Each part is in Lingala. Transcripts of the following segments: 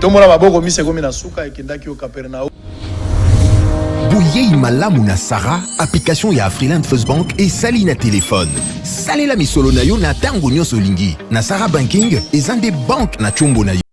tombola maboko misa ekomi na suka ekendaki yo kapernao boyei malamu na sara application ya afriland first bank esali na telefone salela misolo na yo na ntango nyonso olingi na sara banking eza nde banke na nkombo na yo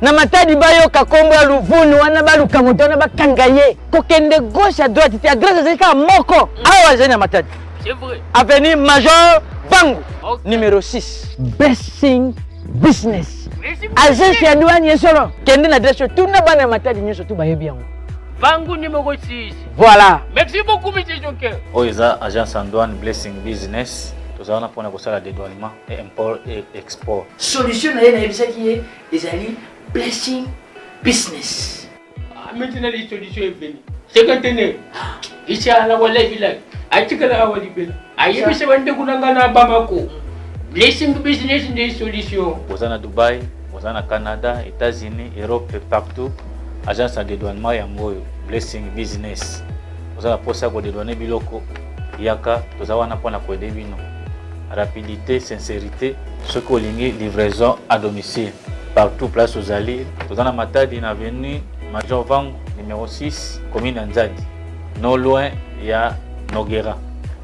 na matadi bayoka kombo ya luvunu wana baluka moto wana bakanga ye kokende gauche à droite te adresse ezali kaka moko awa azali na matadi avenue major bangu okay. numero 6 basing business agence ya douane ye solo kende na adresse oyo tuna bana ya matadi nyonso tu bayebi yango bangu numero 6 voilà merci beaucoup monsieur joker oyo eza agence ya douane blessing business tozala wana mpona kosala dedouanement e import e export solution na ye nayebisaki ye ezali blessing business maintenant les solutions est venue c'est que tenez inshallah wallahi billahi atikala awa libela ayebisa bandeko na ngai na bamako blessing business nde solution oza na dubai oza na canada états-unis europe partout agence ya dedouanement yango oyo blessing business oza na mposa ya kodedouane biloko Yaka toza wana mpo na koede bino. Rapidite, sincerite. Soki olingi livraison à domicile partout place ozali, toza na Matadi na avenue Major Vangu numéro 6 commune ya Nzadi, no loin ya Nogera.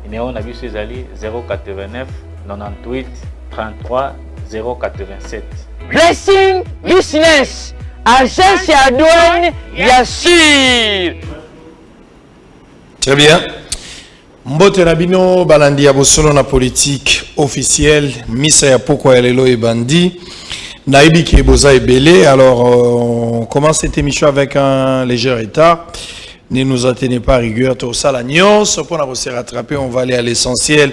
Numéro na biso ezali 089 98 33 087. Blessing Business, agence ya douane ya sur. Très bien. Mbote na bino balandi ya bosolo na politique officielle misa ya pokwa ya lelo ebandi nayebi ke boza ebele alors euh, on commence cette émission avec un léger retard ne nous atteignez pas rigueur tosala nyonso mpo na ko se rattraper on va aller à l'essentiel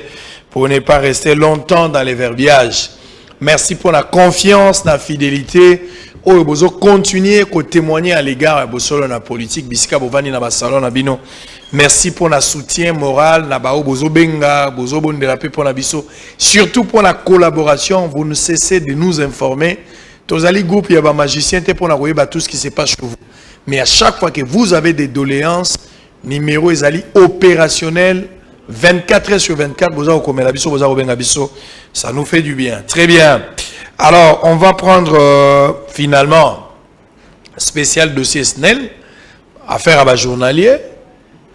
pour ne pas rester longtemps dans les verbiages Merci pour la confiance, la fidélité. oyo bozo continuer ko témoigner à l'égard ya bosolo na politique bisika bovandi na ba salon na bino merci pour na soutien moral na bao bozo benga bozo bondela pe pona biso surtout pour la collaboration vous ne cessez de nous informer tozali groupe ya ba magicien te pona koyeba tout ce qui se passe chez vous mais à chaque fois que vous avez des doléances Numero ezali operationel 24 heures sur 24 boza kokomela biso boza kobenga biso ça nous fait du bien très bien alors on va prendre euh, finalement spécial dossier snel affaire à bas journalier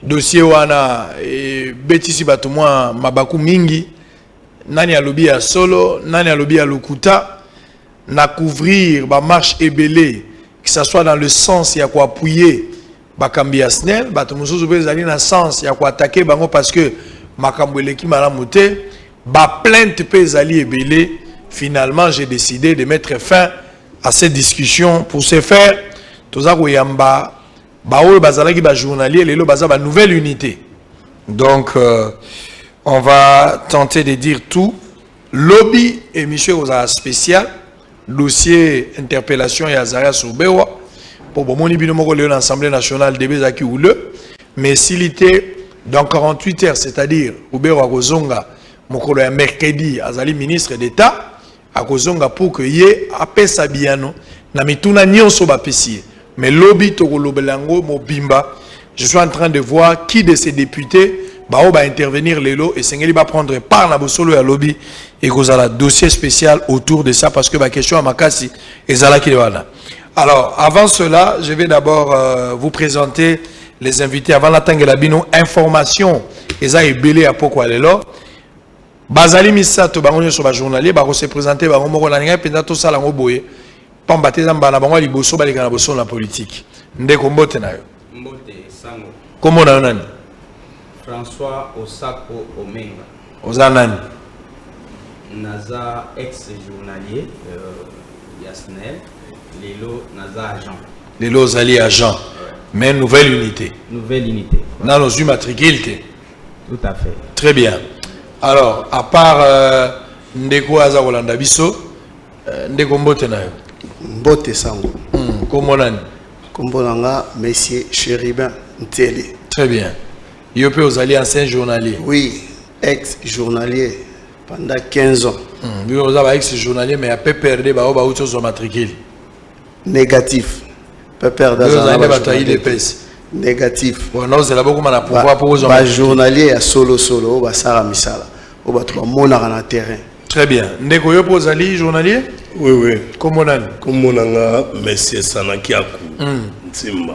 dossier wana et betisi bato mwa mabaku mingi nani alobi ya solo nani alobi ya lokuta na couvrir bamarche ebele que ça soit dans le sens ya koappuye Bakambi ya SNEL, bato mosusu mpe ezali na sens ya koatake bango parce que makambo eleki malamu te. Baplainte mpe ezali ebele. Finalement, j'ai décidé de mettre fin à cette discussion. Pour ce faire, toza koyamba baoyo bazalaki ba journalier lelo baza ba nouvelle unité. Donc euh, on va tenter de dire tout. Lobby émission aux spécial dossier interpellation ya Azarias Ruberwa mpo bomoni bino moko lelo na assemblée nationale debe ezalaki houleux mais esili te dans 48 heures c'est-à-dire Ruberwa akozonga mokolo ya mercredi azali ministre d'état akozonga pour que ye apesa biyano na mituna nyonso bapesi ye Mais lobi toko lobela yango mobimba. Je suis en train de voir qui de ces députés baoyo ba intervenir lelo esengeli ba prendre part na bosolo ya lobi ekozala dossier spécial autour de ça parce que ba question ya makasi ezalaki wana. Alors avant cela, je vais d'abord euh, vous présenter les invités avant la tangela bino information eza ebele ya poko lelo bazali misato bango nyonso bajournalier bakose présente bango moko na ngai mpenza tosala yango boye pamba te eza mbala na bango ya liboso baleka na bosolo na politiki ndeko mbote na yo mbote sango kombo na yo nani françois osako omenga oza nani naza ex journalier euh, ya snel lelo naza agent lelo ozali agent ouais. mais nouvelle unité nouvelle unité ouais. nano ozwi matricule te tout à fait très bien alors à part euh, ndeko aza kolanda biso Eh, ndeko mbote na yo mbote sango hmm, kombo nani kombo na nga monsieur cheribin ntele très bien yo mpe ozali ancien journalier oui ex journalier pendant 15 ans hmm, yo oza ba ex journalier mais ya pprd baoyo bauti ozwa matricule Négatif. Pepper Dazana. Négatif. Bon, ozela bokoma na pouvoir pour ozwa. Ba journalier ya solo solo oyo basala misala. Oyo bato bamonaka na terrain. Très bien. Ndeko yo mpo ozali journalier? Oui, oui. Kombo nani? Kombo na nga Monsieur Sanakiaku. Mm. Nsimba.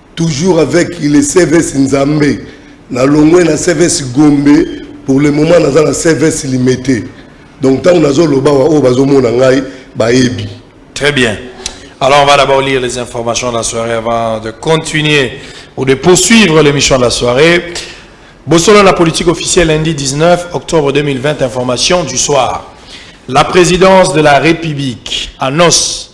Toujours avec le CVS Nzambe. Na longwe na CVS Gombe pour le moment naza na CVS Limete. Donc tango nazo loba wa oyo bazo mona ngai bayebi. Très bien. Alors on va d'abord lire les informations de la soirée avant de continuer ou de poursuivre l'émission de la soirée. Bosolo la politique officielle lundi 19 octobre 2020 information du soir. La présidence de la République annonce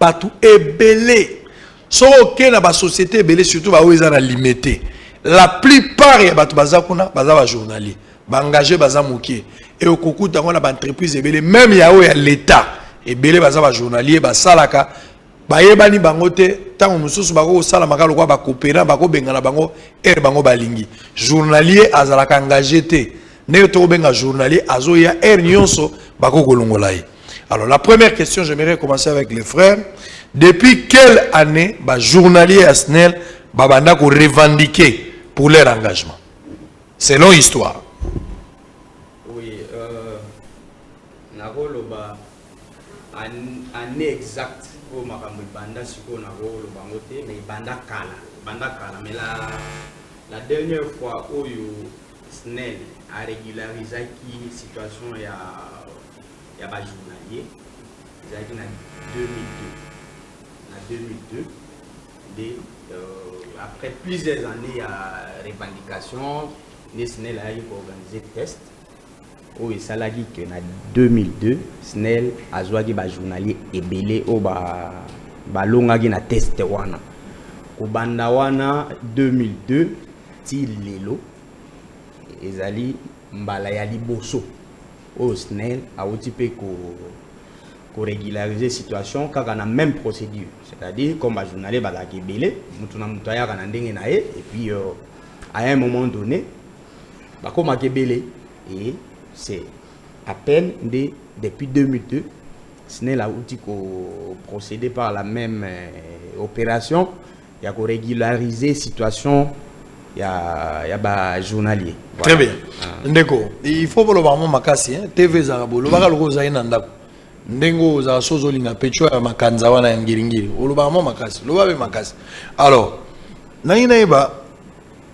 bato ebele soki oke na basociété ebele surtout baoyo eza na limete la plupart ya bato baza kuna baza bajournalier baengage baza moke e okokuta yango na baentreprise ebele meme ya oyo ya leta ebele baza bajournalier basalaka bayebani bango te ntango mosusu bakoki kosala maka lokola bakopera bakobengana bango ere bango balingi journalier azalaka engage te ndenge tokobenga journalier azoya heure nyonso bako kolongola ye alors la première question j'aimerais commencer avec les frères depuis quelle année ba journalier ya snel babanda ko revendiquer pour leur engagement selon histoire oui euh, nakoloba année exacte oyo makambo ebanda sikoyo nakoloba yango te mais ebanda kala ebanda kala mais la, la dernière fois oyo Snel a regularisaki situation ya ya ba journaliers ezalaki na 2002 na 2002 nde euh, après plusieurs années ya revendication nde snel ayaki ko organiser test oyo esalaki que na 2002 snel azuaki ba journalier ebele oyo ba balongaki na test wana kobanda wana 2002 ti lelo ezali mbala ya liboso oyo snel awuti mpe ko ko regulariser situation kaka na meme procédure c'est à dire comme ba journalier bazalaka ebele motu na motu ayaka na ndenge na ye et puis euh, à un moment donné bakomaka ebele et c'est à peine nde depuis 2002 snel auti koprocéder par la même euh, opération ya koregulariser situation ya, ya bajournalier voilà. très bien ah. ndeko il faut boloba yango makasi hein? tv ezalaka bolobaka lokola ozali na ndako ndenge oyo ozala so ozolinga pecho ya makanza wana ya ngiringiri olobaka mwa makasi loba mpe makasi alors nangi nayeba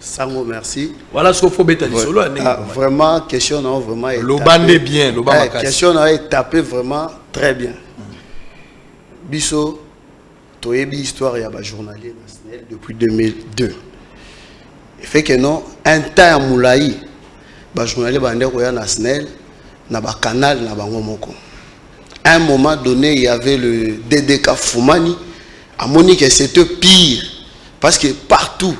sango merci voilà soko faut beta lisolo ya ndenge ah, vraiment question na vraiment loba nde bien loba eh, makasi question na etape vraiment très bien biso toyebi histoire ya ba journalier na SNEL depuis 2002 fait que non un temps ya molai ba journalier bande koya na SNEL na ba canal na bango moko un moment donné il y avait le DDK Fumani à Monique c'était pire parce que partout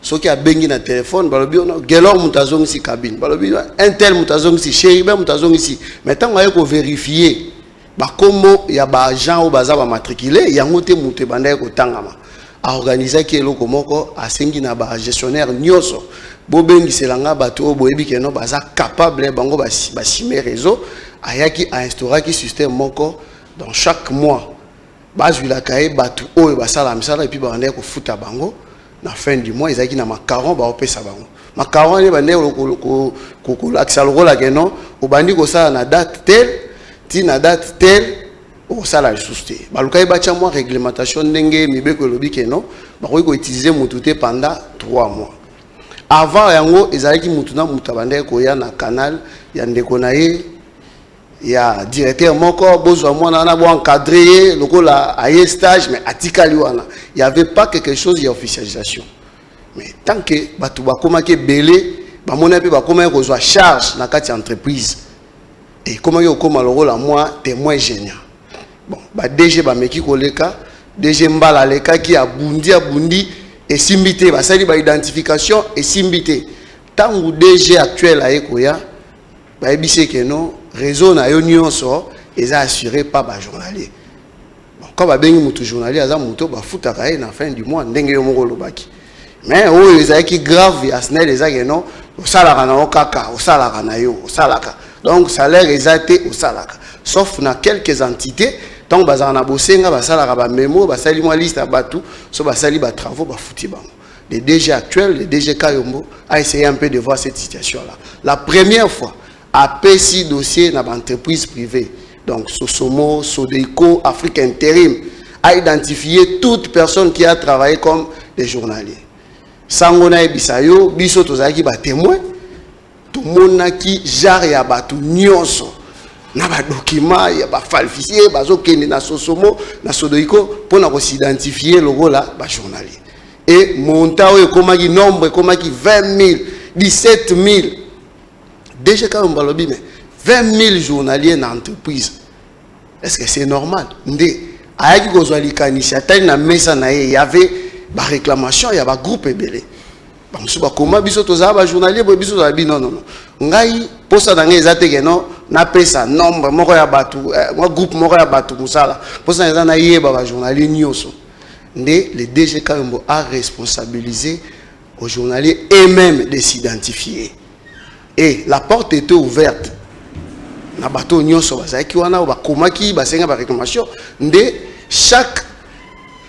ce qui a bengi na téléphone balobi on gelor mutazong si cabine balobi un tel mutazong si chéri ben mutazong si mais tant qu'on ko vérifier ba combo ya ba agent ou baza ba matriculer yango te mutu bandaki ko tangama a organisaki eloko moko asengi na ba gestionnaire nyoso bobengisela nga bato oyo boyebi keno baza capable bango basime réseau ayaki ainstauraki système moko dans chaque mois bazwilaka ye bato oyo basala misala epuis babandaki kofuta bango na fin du mois ezalaki na macaron baopesa bango macaron wana ebandaki kolakisa lokola keno obandi kosala na date tel ti na date tel Okosala lisusu te. Balukaki batya mwa reglementation ndenge mibeko elobi keno bakoki koutilize mutu te pendant 3 mois. Avant yango ezalaki mutu na mutu abandaki koya na canal ya ndeko na ye ya directeur moko bozwa mwana wana bo encadre ye lokola aye stage mais atikali wana. Il y avait pas quelque chose ya officialisation. Mais tant que batu bakomaki ebele bamonaki mpe bakomaki kozwa charge na kati ya entreprise ekomaki kokoma lokola mwa temoin genia bon ba dg bameki koleka dg mbala alekaki abundi abundi esimbi te basali baidentification esimbi te ntango dg actuel aye koya bayebisi ekeno réseau na yo nyonso eza assure pa bajournalier Quand ba bengi mutu journalier aza mutu ba futaka ye na fin du mois ndenge yo moko olobaki. Mais oyo ezalaki grave ya SNEL eza ke non osalaka na yo kaka osalaka na yo osalaka. Donc salaire eza te osalaka. Sauf na quelques entités donc bazalaka na bosenga basalaka ba memo basali mwa liste ya batu so basali ba travaux ba futi bango. Le DG actuel, le DG Kayombo a essayé un peu de voir cette situation là. La première fois Apesi dossier na ba entreprises privees donc Sosomo, Sodeco, Afrique Interim a identifier toute personne qui a travaillé comme des journaliers. Sango na yebisa yo biso tozalaki ba témoins tomonaki genre ya bato nyonso na ba documents ya ba falsifier bazokende na Sosomo na Sodeco mpo na kosidentifie lokola ba journaliers et montant oyo ekomaki nombre ekomaki 20 000 17 000 DG Kalombo alobi mais 20 000 journaliers na entreprise est-ce que c'est normal nde ayaki kozwa likanisi atali na mesa na ye y avait baréclamation ya bagroupe ebele bamosusu bakoma biso tozala bajournalier boye biso tozala bino nono ngai mposa na ngai eza te keno napesa nombre moko ya bato eh, mwa groupe moko ya bato mosala mposa na eza nayeba bajournalier nyonso nde le dg kayombo a responsabilise Aux journaliers et même de s'identifier. Et la porte était ouverte. Na bateau nyonso bazalaki wana oyo bakomaki basenga ba réclamation nde chaque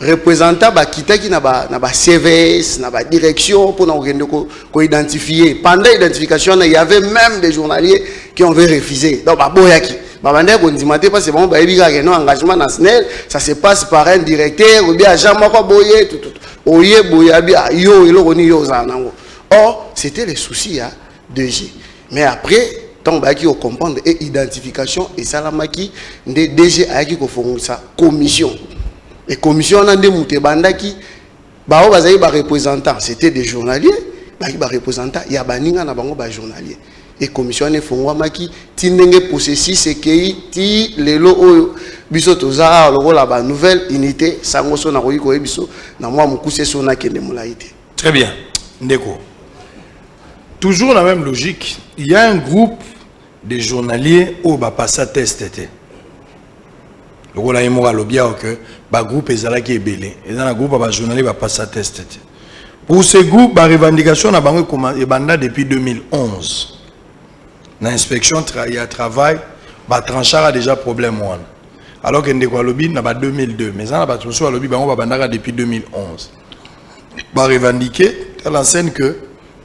représentant bakitaki na ba na ba CVS na ba direction pour na kokende ko, ko identifier pendant identification wana il y avait même des journaliers qui ont refusé donc baboyaki babandaki kondima te parce bango bayebi kaka no engagement na SNEL ça se passe par un directeur ou bien agent moko boye tututu oye boye abi ah, yo eloko nini yo ozala nango or c'était le souci ya 2G mais après ntango bayaki kocomprendre e identification esalamaki nde DG ayaki kofongisa commission e commission wana nde moto ebandaki baoyo bazali bareprésentant c'était des journaliers bayaki bareprésentant ya baninga na bango bajournalier et commission wana efongwamaki ti ndenge processus ekei ti lelo oyo biso toza awa lokola ba nouvelle unité sango so nakoki koyebi biso na mwa mokuse so nakende molai te très bien ndeko toujours la même logique il y a un groupe de journaliers oyo bapasa test te lokola ye moko alobi awa ke bagroupe ezalaki ebele eza na groupe ya bajournalier bapasa test te Pour ce groupe, ba revendication na bango ebanda depuis 2011. Na inspection tra ya travail, ba tranchara déjà problème wana. Alors que ndeko alobi na ba 2002, mais na bato mosusu alobi bango babandaka depuis 2011. Ba revendiquer à l'enseigne que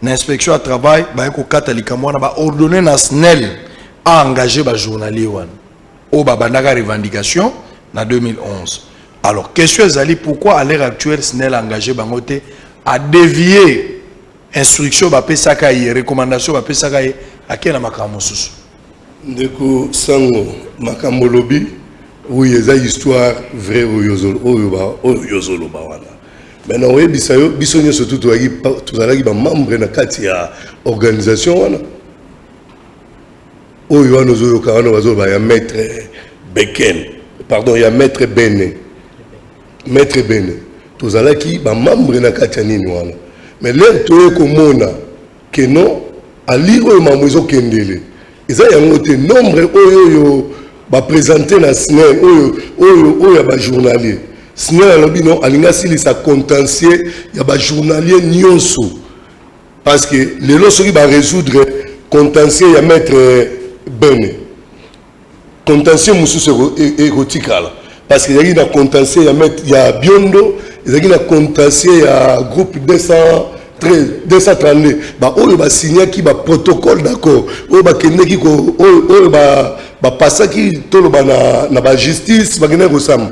na inspection ya travail baye kokata likambo wana ba ordonner na SNEL a engager ba journalier wana oyo babandaka revendication na 2011. Alors question ezali pourquoi à l'heure actuelle SNEL engagé bango te à dévier instruction bapesaka ye recommandation bapesaka ye akei na makambo mosusu ndeko sango makambo olobi oyo eza histoire vrai oyo ozoloba wana me na oyebisa yo biso nyonso tu tozalaki bamembre na kati ya organisation wana Oyo wana ozoyoka wana bazoloba ya maître Bekel, pardon ya maître Bene, maître Bene tozalaki ba membre na kati ya nini wana, mais lere toye komona que non ali oyo mambo ezokendele eza yango te, nombre oyo oyo bapresente na snel oyo oyo oyo ya bajournalier snel alobi non alingi asilisa contentieux ya bajournalier nyonso Parce que lelo soki ba resoudre contentieux ya maître Bene contentieux mosusu ekotikala parce que ezalaki na contentieux ya maître ya Biondo ezalaki na contentieux ya groupe 200 232 baoyo basignaki baprotocole d'accord oyo bakendeki oyo bapasaki toloba na bajustice bakendaki kosamba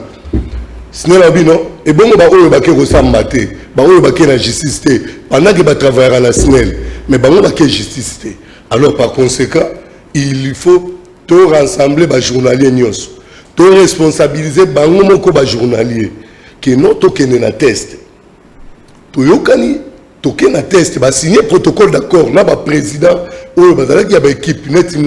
sinela bino ebongo baoyo bake kosamba te baoyo bake na justice te pendant ke batravaillaka na snel mais bango bake justice te alors par conséquent il faut to rassembler bajournalier nyonso to responsabilise bango moko bajournalier keno tokende na teste toyokani toke na test basigne protocole d'accord na baprésident oyo bazalaki ya baekipe neti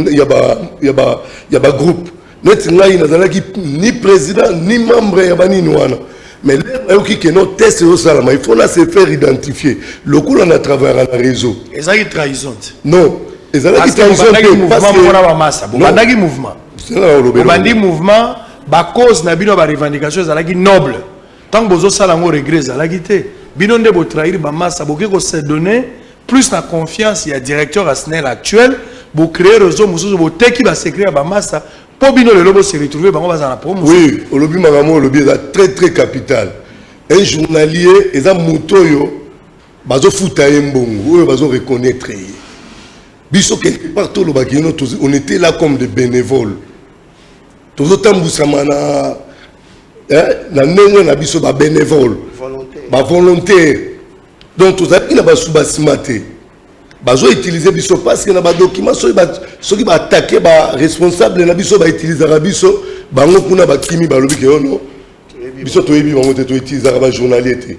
ya bagroupe neti ngai nazalaki ni président ni membre ya banini wana mais lelo nayoki keno test ezosalama il faut na se faire identifier lokola na travaillaka na réseau ezalaki trahison non ezalaki trahison obandaki mouvement obandi mouvement bacause na bino ya barevendication ezalaki noble Tango bozo sala ngo regret ezalaki te. Bino nde bo trahir ba massa boke ko se donner plus na confiance ya directeur ya SNEL actuel bo créer réseau mosusu bo teki ba secret ya ba massa po bino lelo bo se retrouver bango baza na promo. Oui, olobi makambo olobi eza très très capital. Un journalier eza moto oyo bazo futa ye mbongo oyo bazo reconnaître ye. Biso quelque part tolobaki on était là comme des bénévoles. Tozo tambusama na eh, na ndenge na biso ba benevole ba volontaire donc tozalaki na basuba nsima te bazo utiliser biso parce que na ba document soki ba soki ba attaquer ba responsable na biso ba utilisaka biso bango kuna bakimi balobi ke yono oh biso toyebi bango te to utilisaka ba journalier te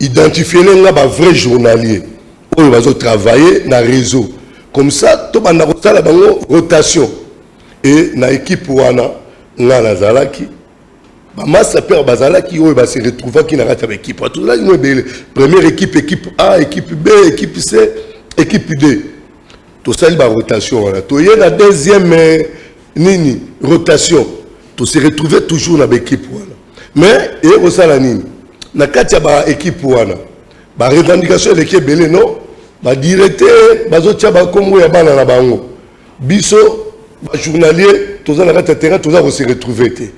Identifiele nga ba vrai journalier oyo bazo travailler na reseau comme ça tobanda kosala bango rotation et na equipe wana nga nazalaki bamasta pere bazalaki oyo base retrouvaki na kati ya baekipe tozalaki mo ebele première équipe équipe a équipe b équipe c équipe d tosali barotation wana toye na deuxième euh, nini rotation tose retrouve toujours na baekipe wana Mais eye kosala nini na kati ya ba ekipe wana ba revendication eleki ebele no ba directeur bazotia bakombo ya bana na bango biso ba journalier toza na kati ya terrain toza kose retrouver te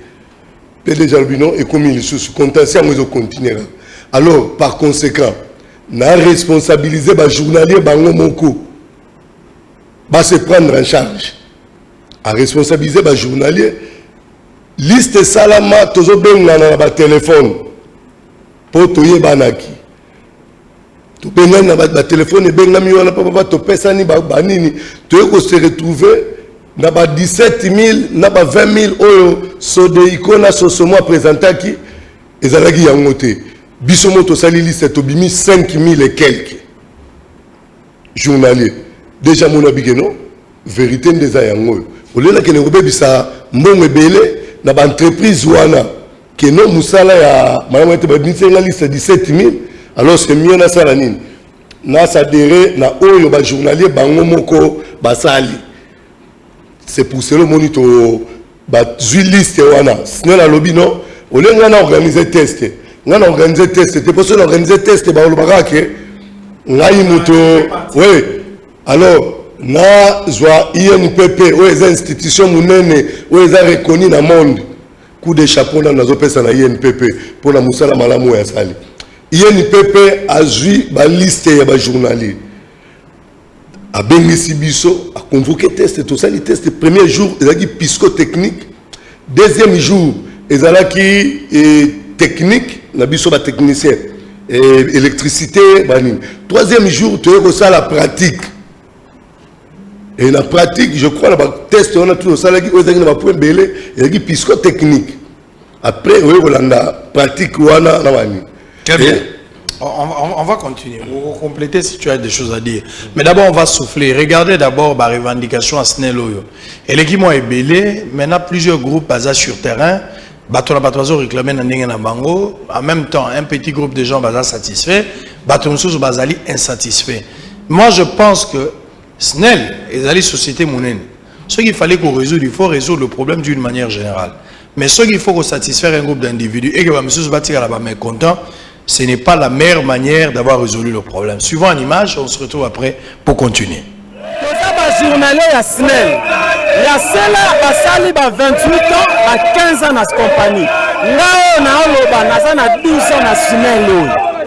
mpe deja alobi no ekomi lisusu contentieux yango ezocontinue kaka alors par conséquent na responsabilise ba journalier bango moko ba se prendre en charge a responsabilise ba journalier Liste esalama tozobengana na ba telefone mpo toyebanaki tobengani na ba telefone ebengami wana papapa topesani banini toye kose retrouver na ba 17000 na ba 20000 oyo sodeiko na sosomo apresentaki ezalaki yango te biso mo tosali liste tobimi 5000 et quelque Journalier dejà amoni abi ke non verite nde eza yango oyo olela kende kobebisa mbongo ebele na ba entreprise wana ke non mosala ya malamu ete babimisi nga liste 17000 alors que mie nasala nini nasadere na oyo ba journalier bango moko basali c'est pour cela omoni to bazwi liste wana snel alobi no olie ngai na organise test ngai na organise test te mpo soki na organise test bakoloba kaka ke ngai moto we alors nazwa inpp oyo eza institution monene oyo eza reconi na monde coup de chapeau nano nazopesa na inpp mpo na mosala malamu oyo asali inpp azwi baliste ya bajournalier Abengisi biso, a convoquer test, tosali test, premier jour ezalaki pisco-technique, deuxième jour ezalaki eh, technique na biso ba technicien eh, électricité banini, troisième jour toye kosala pratique et na pratique je crois na ba test wana tout osalaki oyo ezalaki na ba point belé ezalaki pisco-technique Après, oye kolanda pratique wana na bani. Très bien. On, on, on, va continuer. On va compléter si tu as des choses à dire. Mais d'abord, on va souffler. Regardez d'abord la revendication à Sneloyo. Et les qui m'ont ébélé, maintenant plusieurs groupes basés sur terrain, bato na bato bazo réclamer na ndenge na bango en même temps un petit groupe de gens baza satisfait bato mosusu bazali insatisfait moi je pense que Snel ezali societe munene soki fallait ko resoudre il faut resoudre le problème d'une manière générale mais soki il faut ko satisfaire un groupe d'individus et que ba misusu ba tikala ba mécontents ce n'est pas la meilleure manière d'avoir résolu le problème suivant en image on se retrouve après pour continuer toza ba journalier ya snel ya sela basali ba 28 ans ba 15 ans na compagnie nga oyo naoloba naza na 12 ans na snel oyo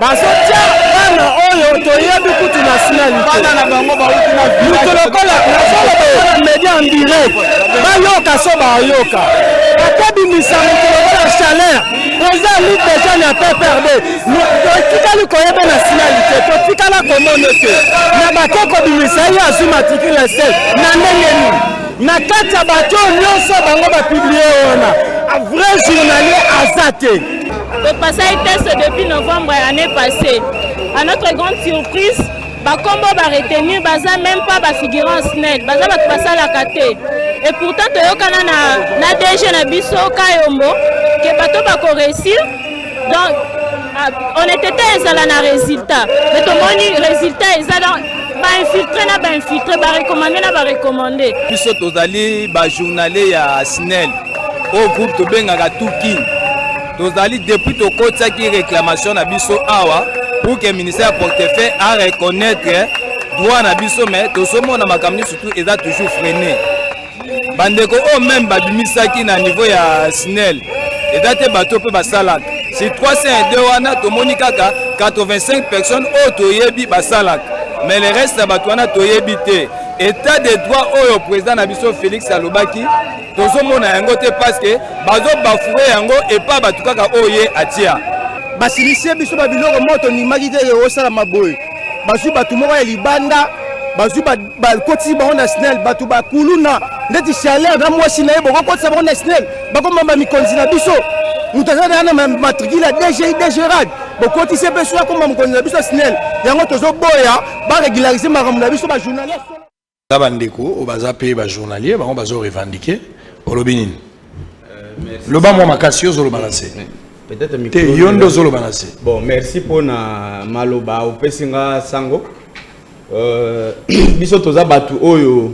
bazotia bana oyo toyebi kutu nationalitemutu lokola nazoaa media en direct bayoka so bayoka bakobimisa motu lokola chaleur oza lit deja na pprd totikali koyeba nationalite totikala komona te na bake kobimisa ye azwi matricule sel na ndenge nini na kati ya bato nyonso bango bapiblie wana vrai journalier aza te topasaki teste depuis novembre ya année passée à notre grande surprise bakombo baretenir baza même pas bafigurant snel baza bato basalaka te et pourtant toyokana na, na dg na biso kayombo ke bato bakoreussir donc ah, honnêteté ezala na résultat mais tomoni résultat eza donc bainfiltre na bainfiltre barecommande na barecommande biso tozali bajournalier ya snel oyo groupe tobengaka tout king tozali depuis tokotisaki réclamation na biso awa pour que ministère ya portefeuille a reconnaître droit na biso mais tozomona makambo nyonso tout eza toujours freine bandeko oyo meme babimisaki na niveau ya snel eza te bato mpe basalaka si 302 wana tomoni kaka 85 personnes oyo toyebi basalaka mais le reste ya bato wana toyebi te etat de droit oyo président na biso félix alobaki tozomona yango te paske bazobafoure yango epa bato kaka oyo ye atia basilisie biso babiloko moko tondimaki te osalama boye bazwi bato moko ya libanda bazwi bakotisi bango na snel bato bakuluna ndeti chaleur na mwasi na ye bokokotisa bango na snel bakoma bamikonzi na biso moto aza na na matricule ya dgi dgerad bokotisi mpe soki akoma mokonzi na biso ya snel yango tozoboya baregularize makambo na biso bajournaliste Za ba ndeko oyo baza pe ba journalier bango bazo revendiquer olobi nini euh, loba mwa makasi yo ozoloba na se te yo nde ozoloba na se bon merci mpo na maloba opesi nga sango euh, biso toza bato oyo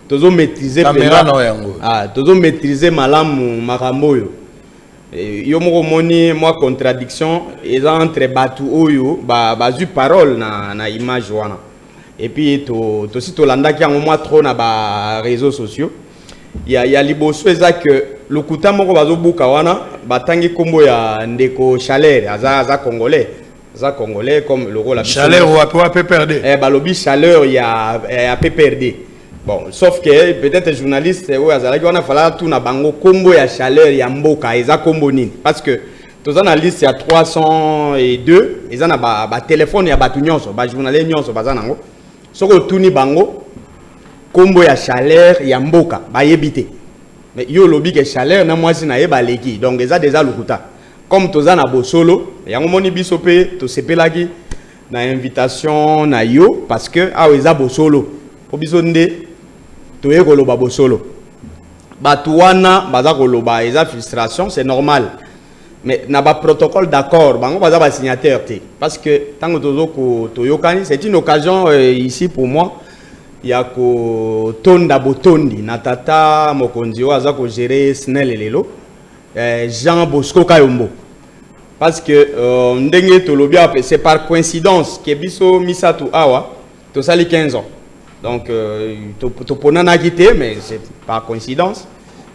tozo maîtrise yango ah, tozo maîtrise malamu makambo oyo eh, yo moko omoni mwa contradiction eza entre bato oyo bazwi ba parole na, na image wana et puis to tosi tolandaki yango mwa trop na ba réseaux sociaux ya, ya liboso eza que lokuta moko bazobuka wana batangi nkombo ya ndeko chaleur aza, aza congolais aza congolais comme lokola chaleur wapi wa pprd eh, balobi chaleur ya, ya pprd bon sauf que peut-être journaliste oyo azalaki wana fala tuna bango nkombo ya chaleur ya mboka eza nkombo nini parce que toza na liste ya 302 eza na batelefone ba ya bato nyonso bajournalier nyonso baza nango soki otuni bango nkombo ya chaleur ya mboka bayebi te mais yo olobi ke chaleur na mwasi na ye baleki donc eza deja lokuta comme toza na bosolo yango moni biso mpe tosepelaki na invitation na yo parce que awa eza bosolo mpo biso nde toye koloba bosolo Batu wana baza koloba eza frustration, c'est normal. Mais na ba protocole d'accord, bango baza ba signateur te. Parce que tango tozo ko toyokani, c'est une occasion euh, ici pour moi ya ko tonda botondi na tata mokonzi oyo aza ko gérer SNEL lelo euh, Jean Bosco Kayombo. Parce que euh, ndenge tolobi c'est par coïncidence que biso misatu awa tosali 15 ans donc euh, toponanaki te mais c'est par coïncidence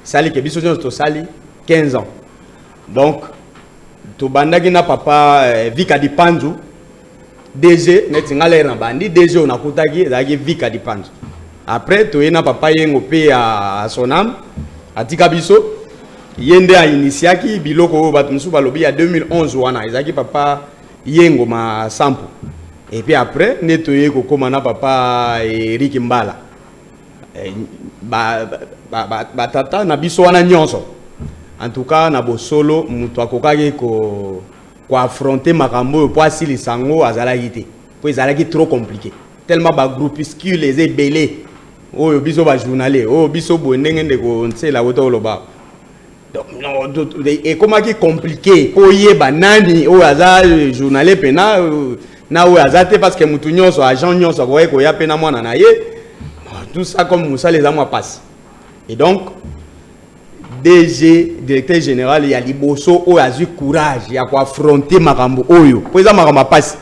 sali ke biso nyonso tosali 15 ans donc tobandaki na papa euh, vika dipanzu dg neti ngai lere na bandi dg oyo nakutaki ezalaki vika dipanzu après toye na papa yengo mpe ya sonam atika biso ye nde ainitiaki biloko oyo bato mosusu balobi ya 2011 wana ezalaki papa Yengo ma sampu et puis après nde toye kokoma na papa Eric Mbala eh, ba, ba, ba, ba tata na biso wana nyonso en tout cas na bosolo moto akokaki ko koaffronte makambo oyo mpo asilisa yango azalaki te mpo ezalaki trop compliqué tellement bagroupuscule eza ebele oyo biso bajournalier oyo biso boye ndenge ndeko nsela kota oloba ekomaki compliqué mpo oyeba nani oyo aza euh, journalier mpena euh, na oyo aza te parce que motu nyonso agent nyonso akokaki koya mpe na mwana na ye tout ça comme mosala eza mwa mpasi et donc dg directeur général ya liboso oyo azwi courage ya koaffronte makambo oyo mpo eza makambo ya mpasi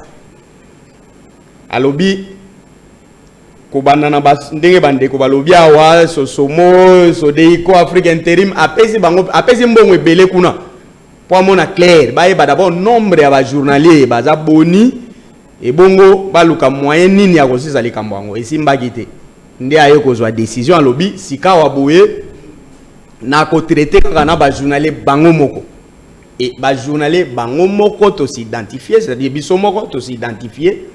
alobi kobanda na ndenge bandeko balobi awa sosomo sodeiko afrique interim apesi bango apesi mbongo ebele kuna mpo amona claire bayeba dabord nombre ya bajournalier baza boni ebongo baluka moyen nini ya kosisa likambo yango esimbaki te nde aye kozwa décision alobi sikawa boye nakotraite kaka na bajournalier bango moko Et ba journalier bango moko to s'identifier, c'est-à-dire biso moko to s'identifier,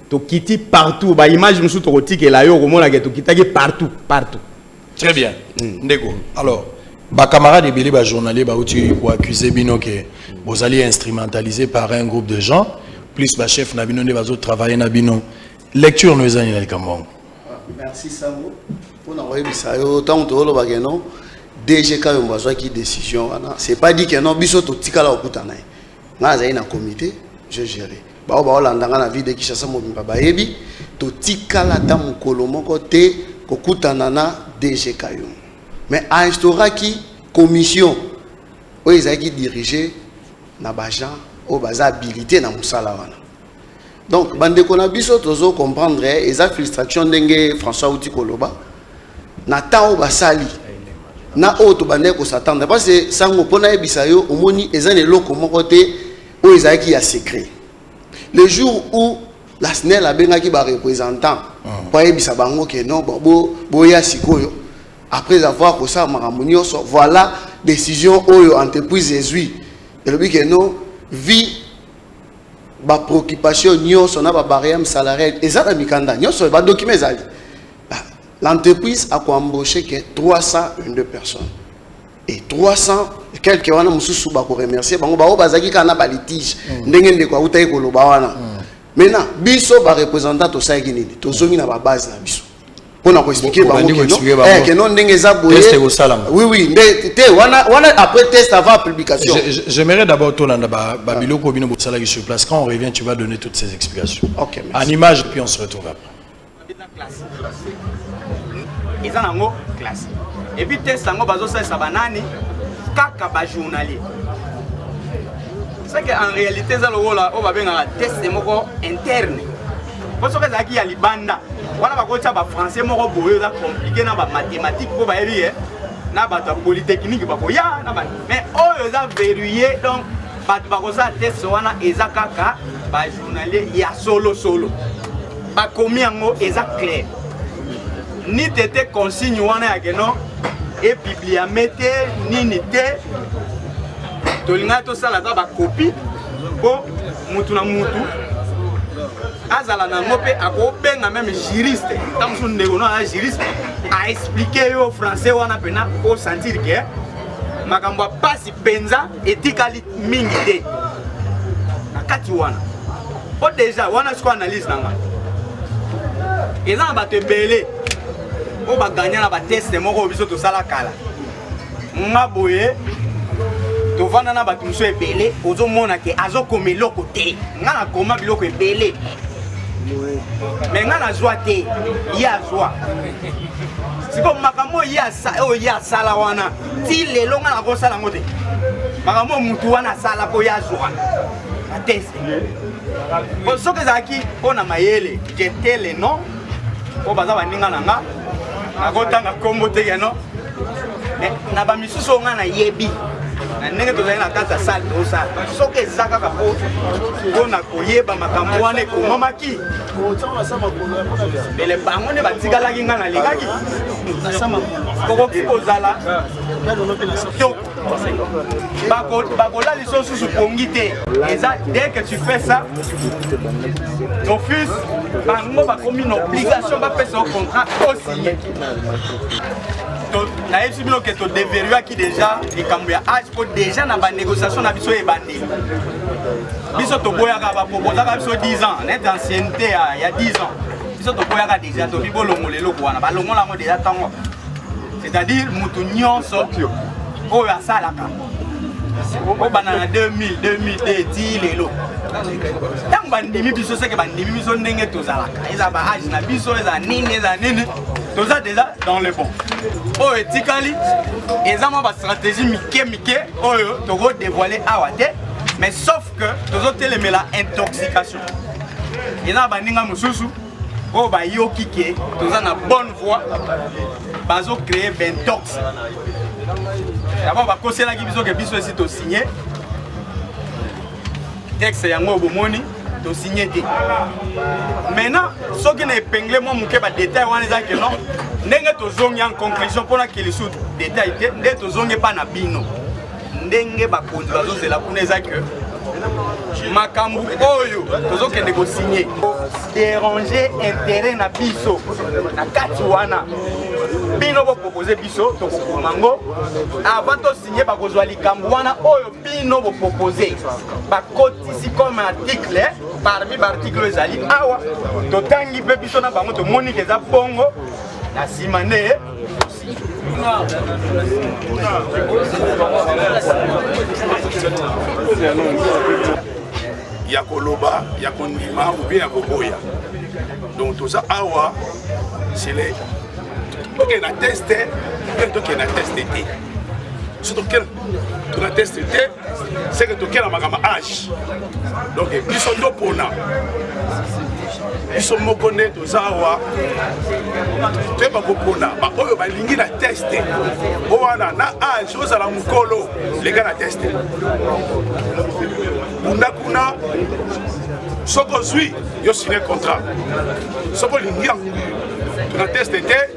to kiti partout, ba image musu to kotike la yo komona ke to kitaki partout, partout. Très bien. Mm. Ndeko. Alors, ba camarades ebele ba journalier ba uti ko accuser bino ke bozali instrumentalisé par un groupe de gens plus ba chef na bino nde bazo travailler na bino. Lecture no ezani na likambo. Ah, merci Sango. Mpo na koyebisa yo ntango tozoloba ke non DG Kayombo azwaki décision wana c'est pas dit que non biso totikala kokutana ye ngai nazali na comité je géré baoyo baolanda ngai na ville de Kinshasa mobimba bayebi totikala ata mokolo moko te kokutana na DG Kayombo mais ainstauraki commission oyo ezalaki dirige na bajean oyo baza habilité na mosala wana donc bandeko na biso tozo comprendre eh, eza frustration ndenge françois auti koloba na temps oyo basali na oyo tobandaki kosatanda parce sango mpo nayebisa yo omoni eza na eloko moko te oyo ezalaki ya secret le jour où la snel abengaki barepresentant ah. mpo ayebisa bango ke non boya sikoyo après avoir kosala makambo nyonso voilà décision oyo entreprise ezwi elobi ke non vie ba preoccupation nionso na ba barème salariale eza na mikanda nionso ba document ezali ah, l'entreprise a embauché que 302 personnes et 300 quelques wana mususu ba ko remercier bango ba bazaki kaka na ba litige mm. ndenge ndeko autaki koloba wana mm. maintenant biso ba représentants tosalaki nini tozongi na ba base na biso pona ko expliquer bango que non eh que non ndenge eza boye test ko sala oui oui nde te wana wana après test avant publication j'aimerais d'abord to landa ba ba ah. biloko bino bosala sur place quand on revient tu vas donner toutes ces explications OK en image puis on se retrouve après eza nango classe et puis test yango bazo salisa banani kaka ba journalier c'est que en réalité eza lokola oyo babengaka test moko interne mpo soki ezalaki ya libanda wana bakotya bafrançais moko boye eza komplike na bamathématique mpo bayebi ye na bato ya polytechnique bakoya na bato mais oyo eza verrouille donc bato bakosala teste wana eza kaka bajournalier ya solosolo bakomi yango eza claire ni tete consigne wana ya keno epibliame te nini te tolingaki tosala ata bakopi mpo motu na motu azala na yango mpe akobenga meme juriste ntango mosusu ndeko no aza juriste aexplike yo français wana mpena osentir ke makambo ya mpasi mpenza etikali mingi te na kati wana mpo deja wana siko analyse na ngai eza na bato ebele oyo baganya na bateste moko oyo biso tosala kala nga boye tovanda na bato mosusu ebele ozomona ke azokoma eloko te nga nakoma biloko ebele me nga nazwa te ye azwa sikoyo makambo oyo ye asala wana ti lelo nga nakosala yango te makambo oyo motu wana asala mpo ye azwa atese po soki ezalaki mpo na mayele jetele non oyo baza baninga na nga nakotanga nkombo te keno na bamisusu oyo ngai nayebi na ndenge tozali na kati ya sale tosala soki eza kaka mpo mpo na koyeba makambo wana ekomamaki mbele bango nde batikalaki ngai nalingaki tokoki kozala bakola liso susu pongi te eza dès que tu fais ça d'office bango bakomi na obligation bapesa yo contrat osiye nayebisi bino ke todeveruaki déjà likambo ya age mpo déjà na banégociation na biso ebandeli biso toboyaka baproposaka biso 10 ans nete ancienneté ya 10 ans biso toboyaka déjà tobi bolongola eloko wana balongola yango déjà ntango c'est-à-dire moto nyonso oyo asalaka obanda na 2000 2002 ti lelo ntango bandimi biso seke bandimi biso ndenge tozalaka eza baage na biso eza nini eza nini toza deja dans le bon oyo etikali eza mwa bastratégie mike mike oyo tokodevoile awa te mais sauf que tozotelemela intoxication eza baninga mosusu oyo bayoki ke toza na bonne voie bazo créer bentox d'abord bakoselaki biso ke biso esi tosigne texte yango bomoni tosigne te maintenant soki na epingle mwa moke badetail wana eza ke non ndenge tozongi en conclusion mpona kilisu detail te nde tozongi epa na bino ndenge bakonzi bazozela kuna eza que makambo oyo tozokende kosigne déranger intérêt na biso na kati wana bino bopropose biso tokokoma yango avant tosigne bakozwa likambo wana oyo bino bopropose bakotisi comme article parmi baarticle oyo ezali awa totangi mpe biso na bango tomoni ke eza bongo na nsima nde ya koloba ya kondima oubien ya koboya donc toza awa sele tokende na teste mpe tokende na teste te so tokende tona teste te seke tokela makambo age donc biso topona biso moko nde toza awa toyeba kopona baoyo balingi na teste o wana na age ozala mokolo leka na teste bunda kuna soki ozwi yo signe contrat soki olingi yango na teste te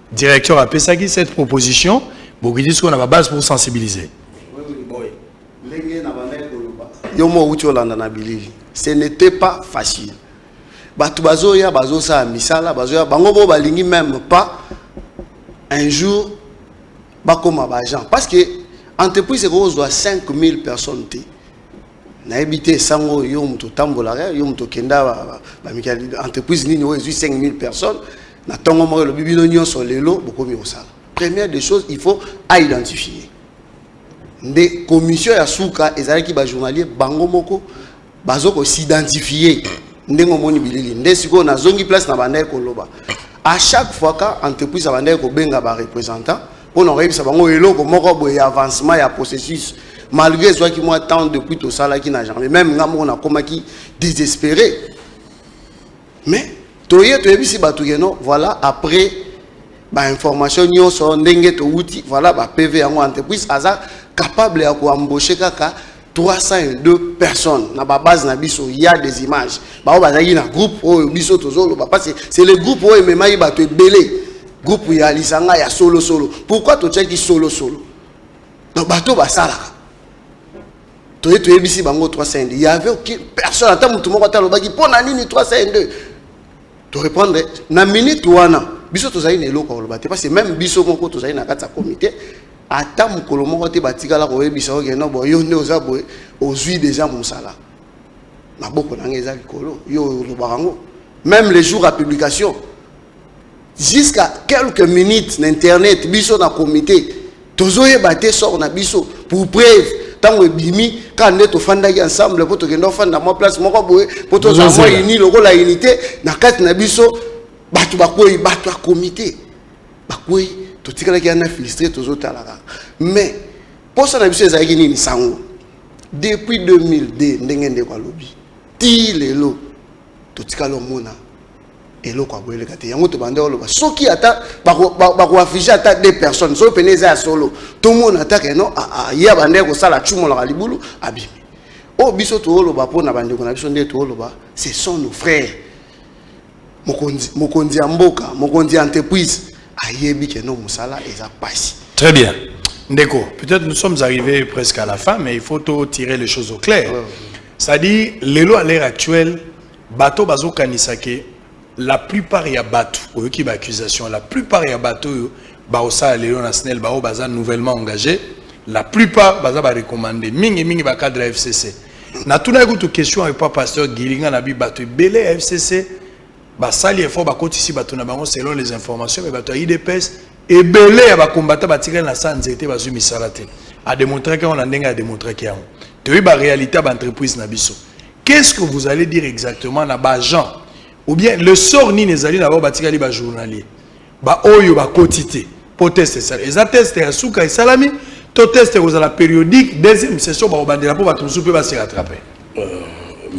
Directeur a pesaki cette proposition, bokiti siko na ba base pour sensibiliser. Yo mo uti olanda na bilili. Ce n'était pas facile. Bato bazoya bazosala misala bazoya bango bo balingi même pas un jour bakoma ba agent parce que entreprise ekozwa 5000 personnes te nayebi te sango yo moto otambolaka yo moto okenda bamikali entreprise nini oyo ezwi 5000 personnes na ntongo moko elobi bino nyonso lelo bokomi kosala première des choses il faut aidentifie nde commission ya suka ezalaki bajournalier bango moko bazo kosidentifie ndenge omoni bilili nde sikoyo nazongi place na bandaki koloba à chaque fois ka entreprise abandaki kobenga barepresentant pona koyebisa bango eloko moko boye ya avancement ya processus malgré ezwaki mwa temps depuis tosalaki na janvier meme nga moko nakomaki désespéré mais toye toyebisi bato keno voilà après bainformation nyonso ndenge towuti voilà bapv yango entreprise aza capable ya koembauche kaka 302 personnes na ba base na biso il y a des images baoyo bazalaki na groupe oyo biso tozoloba parce que c'est le groupe oyo ememaki bato ebele groupe ya lisanga ya solosolo pourquoi totyaki solosolo donc bato basalaka toye toyebisi bango 302 il y avait aucune personne ata motu moko ata alobaki mpo na nini 302 to répondre na minute wana biso tozali na eloko ya koloba te parce que même biso moko tozali na kati ya comité ata mokolo moko te batikala koyebisa oke no bo yo nde oza boye ozwi deja mosala maboko na ngai eza likolo yo olobaka yango même le jour ya publication jusqu'à quelques minutes na internet biso na comité tozoyeba te sort na biso pour preuve ntango ebimi kaka nde tofandaki ensemble mpo tokenda ofanda mwa place moko boye mpo tozala mwa ini lokola unité na kati na biso bato bakwei bato ya comité bakwei totikalaki ya na filistre tozotala kaka mais mposa na biso ezalaki nini sango depuis 2002 ndenge ndeko alobi ti lelo totikali omona eloko ya boyeleka te yango tobanda oloba soki ata bakoafige ata de personnes soki pene eza ya solo tomona ata keno ye abanda ye kosala acumolaka libulu abimi oyo oh, biso tooloba mpo na bandeko na biso nde tooloba ce sont nos frères mokonzi mokonzi ya mboka mokonzi ya entreprise ayebi ke no mosala eza pasi très bien ndeko peut-être nous sommes arrivés presque à la fin mais il faut to tirer les choses au clair ouais. c'est-à-dire lelo à l'heure actuelle bato bazokanisa ke la plupart ya bato oyoki baccusation la plupart ya bato oyo baosala lelo na snel baoyo baza nouvellement engagé la plupart baza barecommande mingi mingi bacadre ya fcc natunaki kutu question epa pasteur gili nga nabi bato ebele ya fcc basali effort bakotisi bato na bango selon les informations me bato ya idps ebele ya bakombata batikali na saa nzete bazwi misala te ademontraki yango na ndenge ademontraki yango toyebi baréalité ya baentreprise na biso qu'est ce que vous allez dire exactement na baagent ou bien le sort nini ezali na bango batikali bajournalier Ba oyo ba koti te po test esala eza test ya suka esalami to test ekozala periodique deuxième session bakobandela po bato mosusu mpe base rattrape euh,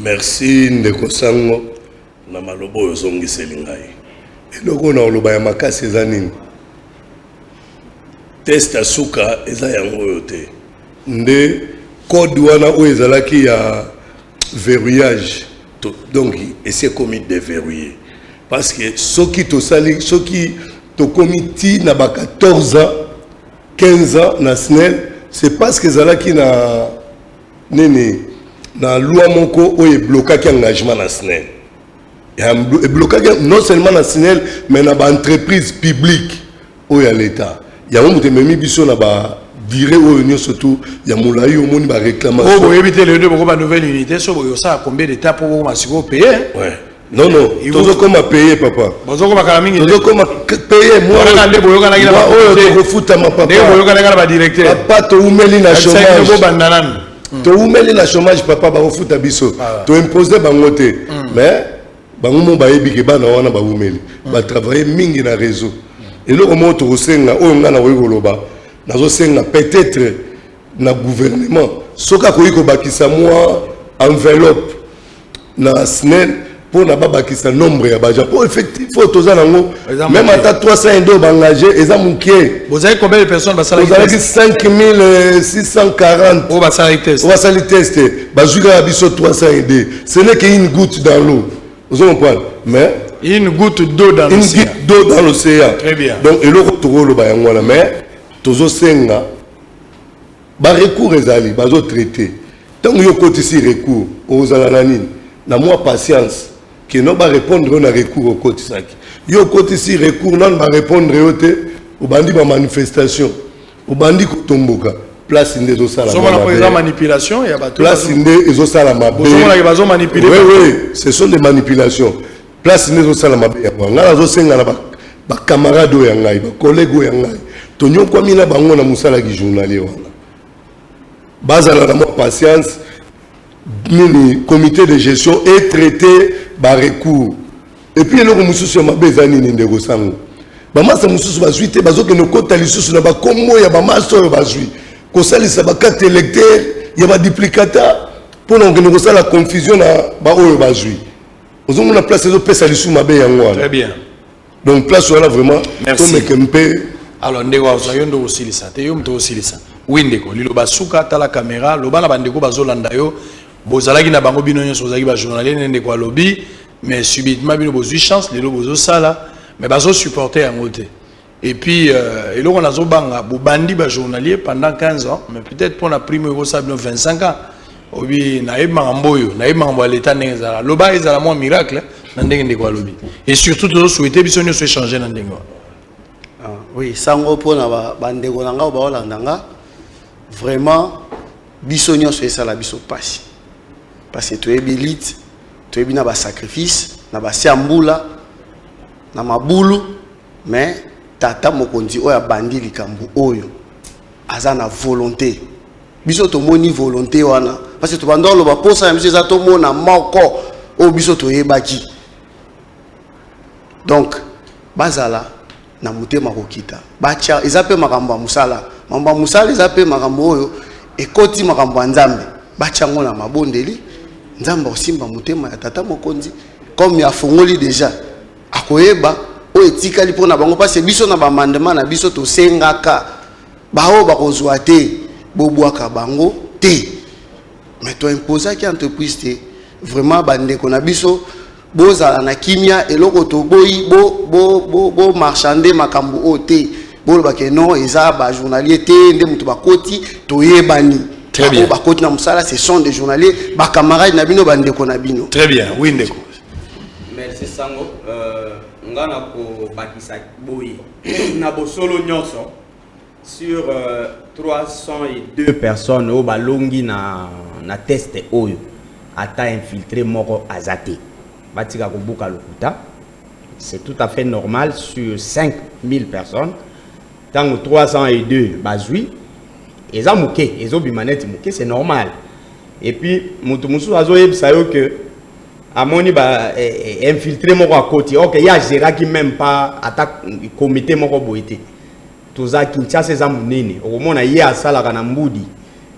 merci ndeko sango na maloba oyo ozongiseli ngai eloko na oloba ya makasi eza nini test ya suka eza yango oyo te nde code wana oyo ezalaki ya verrouillage donc esi ekomi deverrouille parce que soki tosali soki tokomi ti na ba 14 ans 15 ans na snel c'est parce que ezalaki na nini na loi moko oyo eblokaki engagement na snel eblokaki non seulement na snel mais na baentreprise publique oyo ya leta yango moto ememi biso na ba dire oyo nyonso tu ya molai omoni ba réclamation oyo boyebi te lelo nde bokoma nouvelle unité so boye osala combien de temps mpo bokoma sikoyo paye non non tozokoma paye papa bozokoma kala mingi tozokoma paye mwana nde boyokanaki na oyo tokofutama papa ndenge boyokanaki na badirecteur papa toumeli na chômage bobanda nanu hmm. toumeli na chômage papa bakofuta biso ah. toimpose bango te hmm. mais bango mo bayebi ke bana wana bawumeli mm. batravaille mingi na réseau eloko moko tokosenga oyo ngai nakoki koloba nazosenga peut-être na gouvernement soki akoki kobakisa mwa enveloppe na snel mpo na babakisa nombre ya baja mpo effectif oyo toza nango meme ata 300 ede oyo baengage eza moke bozalaki combien de personnes basalaki 5640 oyo basali test oyo basali test bazwi kaka biso 300 ede Ce n'est qu'une goutte dans l'eau. Vous comprenez Mais une goutte d'eau dans l'océan. Une goutte d'eau dans l'océan. Très bien. Donc eloko tokolo ba yango na mais tozo senga ba recours ezali bazo traiter. Tango yo kotisi recours ozala na nini? Na moi patience que non ba répondre na recours okotisaki. Yo kotisi recours non ba répondre yo te obandi ba manifestation. Obandi kotomboka place nde ezosala ozomona mpo eza manipulation ya bato place nde ezosala mabe ozomonake bazo manipule oui oui ce sont des manipulations place nde ezosala mabe yango ngai nazosenga na bacamarade oyo ya ngai bacollègue oyo ya ngai tonyokwami na bango na mosala ki journalier wana bazala na mwa patience Nini comite de gestion e traite ba recours et puis eloko mosusu ya mabe eza nini ndeko sango bamasa mosusu bazwi te bazokende kokota lisusu na bakombo ya bamasa oyo bazwi kosalisa bakarte electeur ya baduplicata mpona kokende kosala confusion na baoyo bazwi ozomona place ezopesa lisusu mabe yango wana donc place wana vraiment tomeke mpe alors ndeko aza yo nde osilisa te yo moto osilisa wi ndeko liloba suka tala kamera loba na bandeko bazolanda yo bozalaki na bango bino nyonso bozalaki bajournalier ne ndeko alobi mais subitement bino bozwi chance lelo bozosala mais bazosupporte yango te et puis euh, eloko nazobanga bobandi bajournalier pendant 15 ans mais peut-être mpo na prime oyo ekosala bino 25 ans obi nayebi makambo oyo nayebi makambo ya leta ndenge ezala loba ezala mwa miracle na ndenge ndeko alobi et surtout tozo souhaite biso nyonso echange na ndenge wana ah, oui sango mpo na bandeko na ngai baolanda nga vraiment biso nyonso esala biso mpasi parce toyebi lite toyebi na basacrifice na basi ya mbula na mabulu mais tata mokonzi oyo abandi likambo oyo aza na volonté biso tomoni volonte wana parce tobanda oloba mposa na biso eza tomona moko oyo biso toyebaki donc bazala na motema kokita batya eza mpe makambo ya mosala makambo ya mosala eza mpe makambo oyo ekoti makambo ya nzambe batya yango na mabondeli nzambe akosimba motema ya tata mokonzi comme afongoli deja akoyeba oyo etikali mpo na bango mpasi biso na bamandema na biso tosengaka baoyo bakozwa te bobwaka bango te mais to imposaki entreprise te vraiment bandeko na biso bozala na kimia eloko toboyi bo, bo, bo, bo marchande makambo oyo te bolobake non eza bajournalier te nde moto bakoti toyebani Très bien. bakoti na mosala ce sont des journalier bacamarade na bino bandeko na bino très bien oui ndeko merci sango euh, nga na kobakisa boye na bosolo nyonso sur 302 euh, personnes oyo balongi na, na teste oyo ata infiltré moko aza te batika kobuka lokuta c'est tout à fait normal sur 5000 personnes ntango 302 bazwi eza moke ezobima neti moke c'est normal et puis moto mosusu azoyebisa yo que amoni ba eh, eh, infiltre moko akoti ok ye agéraki meme pas ata comité moko boye te toza kinshasa eza monene okomona ye asalaka na mbudi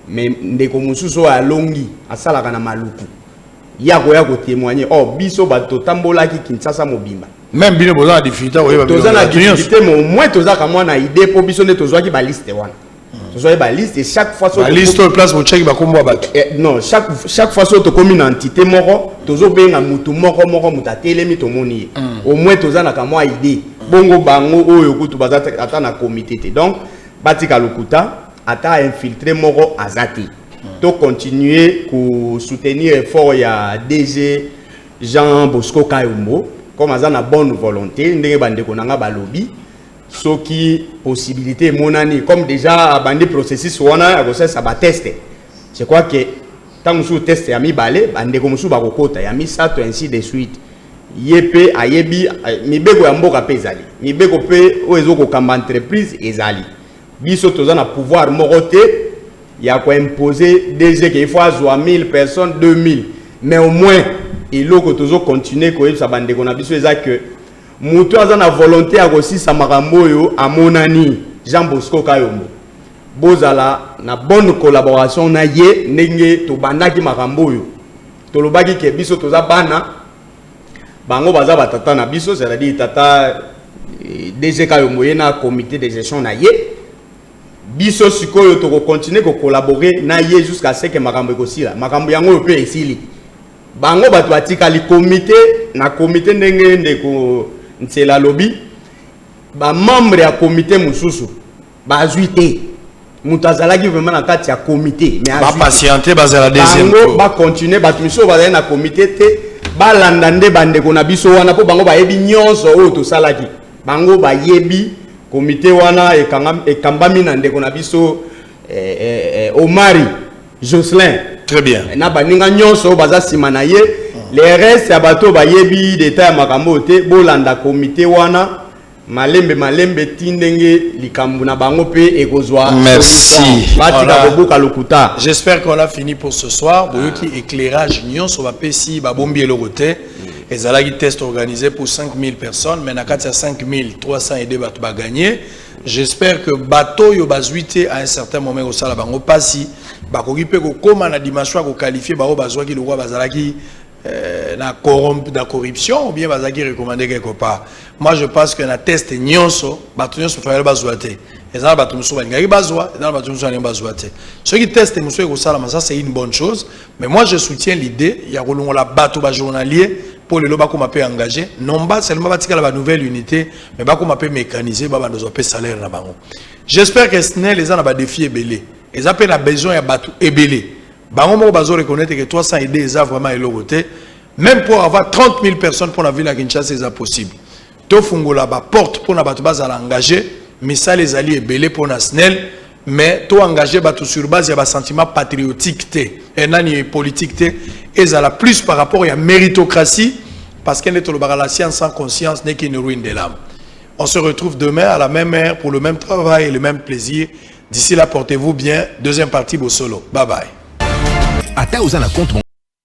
me ndeko mosusu oyo alongi asalaka na maluku ye akoya kotémoigne o oh, biso bato totambolaki kinshasa mobimba meme bino boza na difficulté koyeba toza na difficulté mais au moins tozaka mwa na idée mpo biso nde tozwaki baliste wana tozwaki baliste et chaque fois baliste oyo place botyaki bakombo ya bato eh, non chaque, chaque fois soki tokomi na entité moko tozobenga motu moko moko moto atelemi tomoni ye mm. au moins toza na kamwa idée mm. bongo bango oyo kutu baza ata na comité te donc batika lokuta ata infiltré moko aza te mm. to continuer kosoutenir effort ya dg jean bosco kayombo comme aza na bonne volonté ndenge bandeko na nga balobi soki possibilité emonani comme déjà abandi processus wana ya kosalisa bateste je crois que ntango mosusu teste ya mibale bandeko mosusu bakokota ya misato ainsi de suite ye mpe ayebi mibeko ya mboka mpe ezali mibeko mpe oyo ezokokamba entreprise ezali biso toza na pouvoir moko te ya koimpose dg ke ifo azwa 1000 personnes 2000 mais au moins eloko tozokontinue koyebisa bandeko na biso eza ke Mutu aza na volonte ya kosisa makambo oyo amonani Jean Bosco Kayombo. Bozala na bonne collaboration na ye ndenge tobandaki makambo oyo. Tolobaki ke biso toza bana bango baza batata na biso c'est-à-dire tata eh, DG Kayombo ye na comité de gestion na ye. Biso sikoyo toko continuer ko collaborer na ye jusqu'à ce que makambo ekosila. Makambo yango oyo pe esili. Bango bato batikali komite na komite ndenge ndeko Nsela alobi ba membre ya komite mosusu bazwi te moto azalaki vraiment na kati ya komite mais ba patiente bazala deuxième tour ba continuer bato misusu bazali na komite te balanda nde bandeko na biso wana mpo bango bayebi nyonso oyo tosalaki bango bayebi komite wana ekambami na ndeko na biso eh, eh, eh, omari Jocelyn. Très bien. Na baninga nyonso baza sima na ye. Les restes ya bato bayebi d'état ya makambo te bolanda comité wana malembe malembe ti ndenge likambo na bango pe ekozwa merci batika kobuka lokuta j'espère qu'on a fini pour ce soir boyoki éclairage nyonso bapesi babombi eloko te ezalaki test organisé pour 5000 personnes mais na kati ya 5302 bato baganye J'espère que bateau yo bazuite à un certain moment au sala bango pasi bakoki pe ko koma na dimension ko qualifier ba bazwaki lokwa bazalaki euh, na corrompu na corruption ou bien bazaki recommandé quelque part. Moi je pense que na test nyonso bato nyonso fayali bazwa te. Ezala bato mosusu balingaki bazwa, ezala bato mosusu balingaki bazwa te. Soki test mosusu ekosalama ça c'est une bonne chose Mais moi je soutiens l'idee ya kolongola bato ba journalier mpo lelo bakoma mpe engage non ba seulement batikala ba nouvelle unité mais bakoma mpe mécanise babanda ozwa mpe salaire na bango j'espère que snel eza na badefi ebele eza mpe na besoin ya bato ebele bango moko bazo reconnaître que 300 idée eza vraiment eloko te même pour avoir 30 000 personnes mpo na ville ya kinshasa eza possible Tofungola ba porte pona bato bazala engage, misala ezali ebele pona SNEL, mais to engage bato sur base ya ba sentiment patriotique te, eh, nani politique te, ezala plus par rapport ya meritocratie, parce que nde tolobaka la science sans conscience n'est qu'une ruine de l'âme. On se retrouve demain à la même heure pour le même travail et le même plaisir. D'ici là, portez-vous bien. Deuxième partie, Bossolo. Bye bye.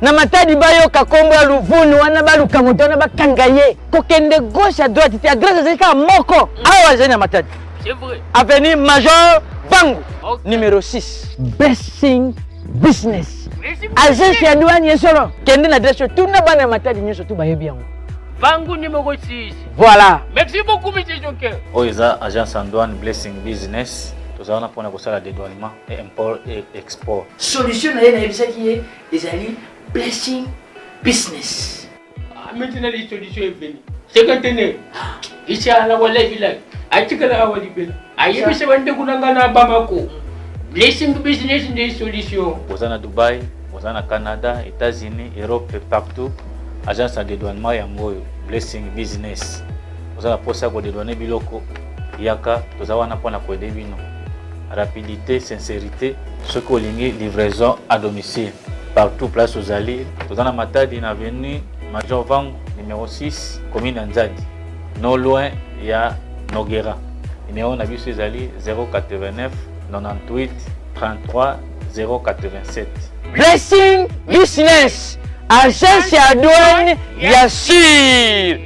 na matadi bayoka kombo ya luvunu wana baluka moto wana bakanga ye kokende gauche à droite te adresse ezali kaka moko awa azali na matadi avenue major bangu okay. numero 6 basing business agence ya douane ye solo kende na adresse oyo tuna bana ya matadi nyonso tu bayebi yango bangu numero 6 voilà merci beaucoup monsieur joker oyo eza agence ya douane blessing business toza wana mpona kosala dedouanement e import e export solution na ye nayebisaki ye ezali blessing business ah, maintenant les solutions est venue c'est que tenez inshallah wallahi billahi atikala awa libela ayebisa bandeko na ngai na bamako blessing business nde solution oza na dubai oza na canada états-unis europe partout agence ya dedouanement yango oyo blessing business oza na mposa ya kodedouane biloko Yaka toza wana mpo na koede bino. Rapidite, sincerite. Soki olingi livraison à domicile partout place ozali, toza na Matadi na avenue Major Vangu numéro 6 commune ya Nzadi, no loin ya Nogera. Numéro na biso ezali 089 98 33 087. Blessing Business, agence ya douane ya sur